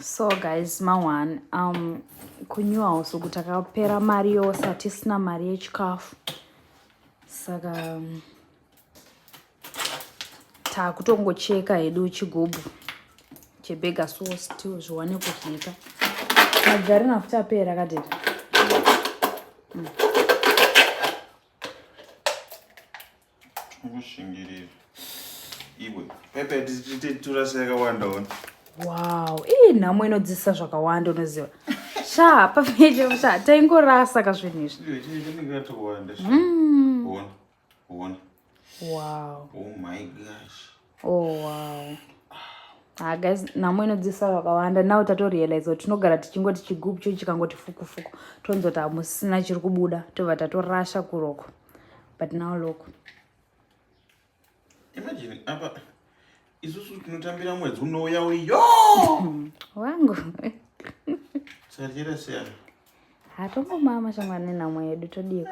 so guys mawan um, kunew house uku takapera mari yose hatisina mari yechikafu saka um, takutongocheka hedu chigubhu chebega so still zviwane kudyika magari nafuti apera kadera mm. Ukushingirira. Iwe. Pepe titura yakawanda ona. Wow, iyi nhamo inodzisa zvakawanda unoziva. Sha, pafeje sha taingorasa ka zvinhu izvi. Iwe chii chingatowanda. Mm. Ona. Ona. Wow. Oh my gosh. oh wow Ah, guys nhamo inodzisa vakawanda now tatorealize kuti tinogara tichingoti chigubu cho chikangoti fukufuku tonzoti hamusina chiri kubuda tobva tatorasha kuroko but now loko imagine apa isusu tinotambira mwedzi unouya uyo wangu satirasiyana hatongomama shamwari nenhamo yedu todiiko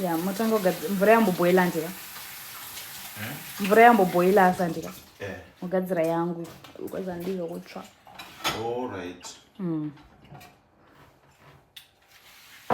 ya motanga kugadzira mvura yamboboila ndika hmm? mvura yamboboila asa ndika eh. mogadzira yangu because andii yokutsva all right mm.